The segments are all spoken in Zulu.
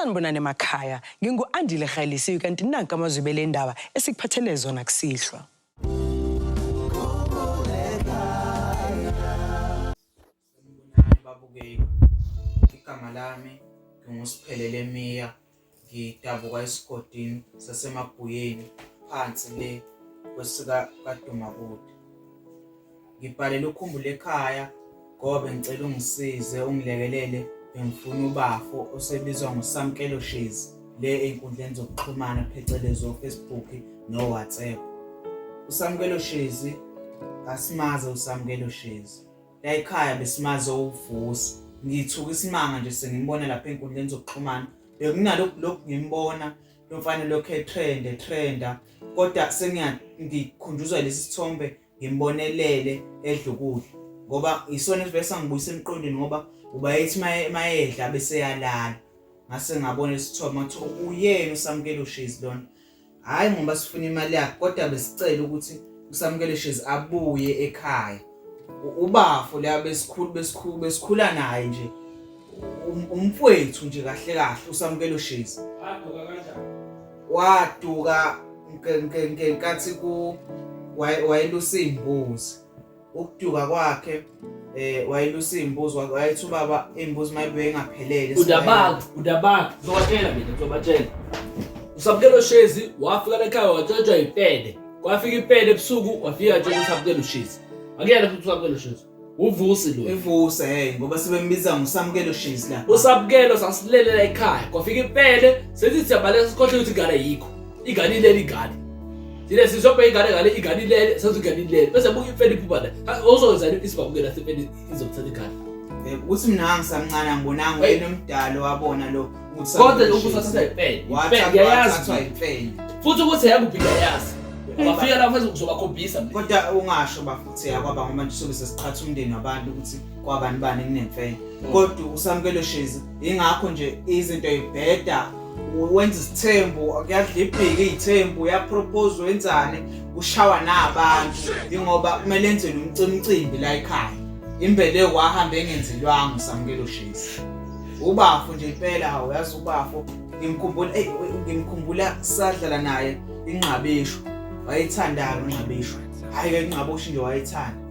sanibonani emakhaya ngingu-andile rhalisiwe kanti nanka amazwi bele ndaba esikuphathele zona kusihlwa babukeki igama lami ngingusiphelele miya ngidabuka esigodini sasemabhuyeni phansi le kwesika kadumakude ngibhalele ukhumbule ekhaya ngobe ngicela ungisize ungilekelele bengifuna ubafo osebizwa ngosamkelo shezi le enkundleni zokuxhumana phecelezi ofacebook nowhatsapp usamkelo shezi kasimaze usamkelo shezi la ekhaya besimaze uvusi ngithuka isimanga nje sengimbona lapha enkundleni zokuxhumana bekunalokhu lokhu ngimbona lo mfana lokhu etrenda etrenda kodwa sengikhunjuzwa lesi sithombe ngimbonelele edla ukudla ngoba isona esivele sangibuyisa emqondweni ngoba uba ethi mayedla bese yalala ngase ngabona isithombe ngathi uyena usamkelo shizi lona hhayi ngoba sifuna imali yakhe kodwa besicela ukuthi usamukele shezi abuye ekhaya ubafo la besikhulu besikhulu besikhula naye nje um, umfwethu nje kahle kahle usamukelo shezi waduka kanjani waduka ngenkathi ku wayelusimbuzi ukuduka kwakhe eh wayelusa imbuzi wayethu baba imbuzi mayibuye ingaphelele udabaka udabaka uzobatshela mina uzobatshela usabukelo shezi wafika lekhaya watshotshwa ipede kwafika ipede ebusuku wafika nje usabukelo shezi akuyena futhi usabukelo shezi uvusi lo evusi hey ngoba sebembiza ngosamukelo shezi la usabukelo sasilelela ekhaya kwafika ipede sethi siyabaleka sikhohle ukuthi gala yikho igani ilele igani thina sizobheka ingane ngale ingane ilele senza ingane ilele bese buka imfene iphupha la ozowenzani isibabukela sefene izomthatha igani eh, ukuthi mina ngisamncane angibonanga wena omdala wabona lo kodwa ukuthathisa ipeni ipeni yayazi futhi ukuthi yakubhika yazi bafika lapho ezokuzobakhombisa kodwa ungasho bafuthi yakwaba ngoba nje sobe sesiqhatha umndeni wabantu ukuthi kwabani bani kunemfene kodwa usamukelo shezi ingakho nje izinto ibheda wenza isithembu kuyadlibhika iy'thembu uyapropose wenzani kushawa nabantu ingoba kumele enzele umcimcimbi la ekhaya imbele wahamba engenzelwanga usamukelo shezi ubafo nje impela hawu yazi ubafo ngimkhumbula eyi ngimkhumbula sadlala naye inqabisho wayethandana unqabisho hhayi ke inqabosho nje wayethanda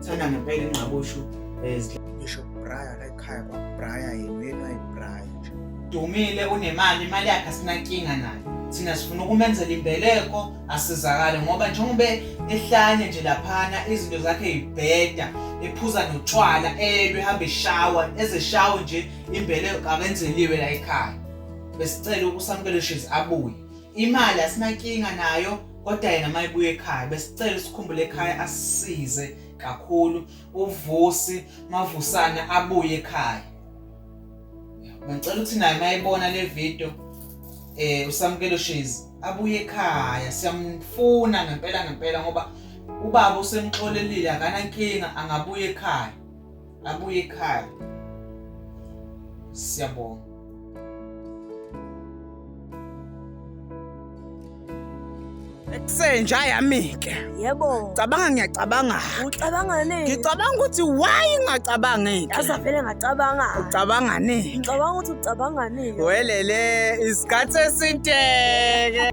thanda ngempela inqabosho um eh, bishop brian ekhaya kwabraya yenu yenu ayibraya nje dumile unemali imali yakhe asinankinga nayo thina sifuna ukumenzela imbeleko asizakale ngoba njengoba ehlanye nje laphana izinto zakhe yibheda ephuza notshwala elwe hambe shawa ezeshawo nje imbeleko akenzeliwe la ekhaya besicela ukusamukela shizi abuye imali asinankinga nayo kodwa yena mayibuye ekhaya besicela sikhumbule ekhaya asisize kakhulu uvusi mavusana abuye ekhaya ngicela ukuthi naye mayibona le video eh usamkelo shezi abuye ekhaya siyamfuna ngempela ngempela ngoba ubaba usemxolelile akanankinga angabuye ekhaya abuye ekhaya siyabonga senja yami-ke yebo cabanga ngiyacabanga ucabanga nini ngicabanga ukuthi why ingacabangeki yaza vele ngacabanga ucabanga nini ngicabanga ukuthi ucabanga nini welele isikhathi esiteke